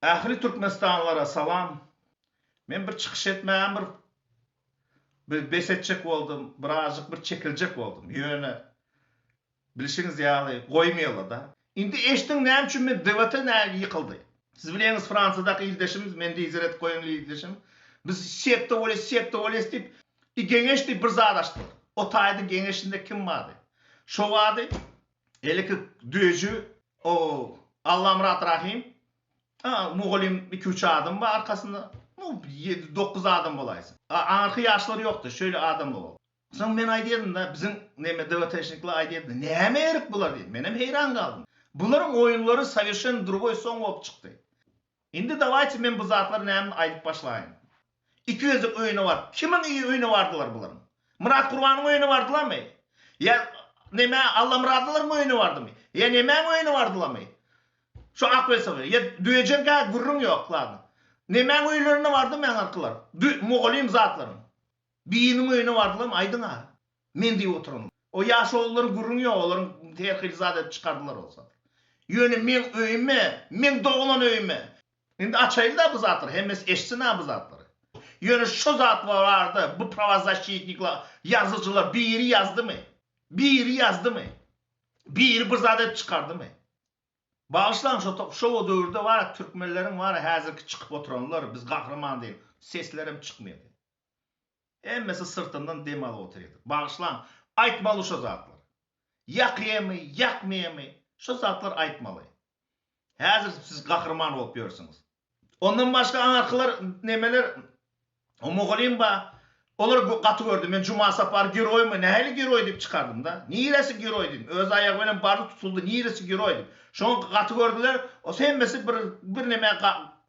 Ähli türkmenistanlylara salam. Men bir çykyş etmäge bir bir bes etjek boldum, birazjyk bir çekiljek boldum. Ýöne bilşiňiz ýaly goýmaýarlar-da. Indi eşdiň näme üçin men DWT näge ýykyldy. Siz bileňiz Fransiýadaky ildeşimiz, men lider edip goýan ildeşim. Biz sekta bolýas, sekta bolýas diýip, i geňeş diýip bir zat açdylar. Otaýdy geňeşinde kim bardy? Şo bardy, Eliki döji o Allamyrat Rahym a mugallym iki üç adam bar arkasynda nu ýedi dokuz adam bolaýsa a aňyrky ýaşlar ýokdy şeýle adamlar boldy soň men aýdýardym da biziň neme dwtşnikler aýdýardy näme ýerik bular diýip menem heýran galdym bularyň oýunlary sowerşen drugoý soň bolup çykdy Indi dawaýçy men bu zatlary näme aýdyp başlaýyn. Iki gezek öýüne baryp, kimiň öýüne bardylar bularyň? Myrat Gurbanyň öýüne bardylamy? Ýa neme Allamyradylaryň öýüne bardymy? Ýa nemäň öýüne bardylamy? Şu Akbesowlaryň, ýa Döjeňkä gürrüň ýok ladna. Nemäň öýlerine bardymy aňyrkylar? Dü, mugallym zatlaryň. Biriniň öýüne bardylamy, aýdyň-a. Men diýip oturanok. O ýaşululary gürrüňi ýok, olaryň her hili zat edip çykardylar bolsa. Ýöne meň öýüme, meň doglan öýüme. Indi açaýyn-da bu zatlary, hemmesi eşitsin-ä bu zatlary. Ýöne şu zat barada bu prawozaşçitnikler, ýazyjylar biri ýazdymy? Biri ýazdymy? Biri bir zat edip çykardymy? Bagyşlaň, şo o döwürde bar-a türkmenleriň bar-a häzirki çykyp oturanlar, biz gahryman diýen, seslerem çykmaýardy. Hemmesi syrtyndan dem alyp otyrdy. Bagyşlaň, aýtmaly şo zatlary. Ýakymy, ýakmymy, şo zatlary aýtmaly. Häzir siz gahryman bolup ýörsüňiz. Ondan başga aňyrkylar, nemeler, o mugallym bar, olar gaty gördi. Men Juma Sapar geroýmy, nähili geroý diýip çykardym-da. Niresi geroý diýdim. Öz aýagy bilen bardy, tutuldy, niresi geroý diýip. Şoňa gaty gördüler. Hemmesi bir, birneme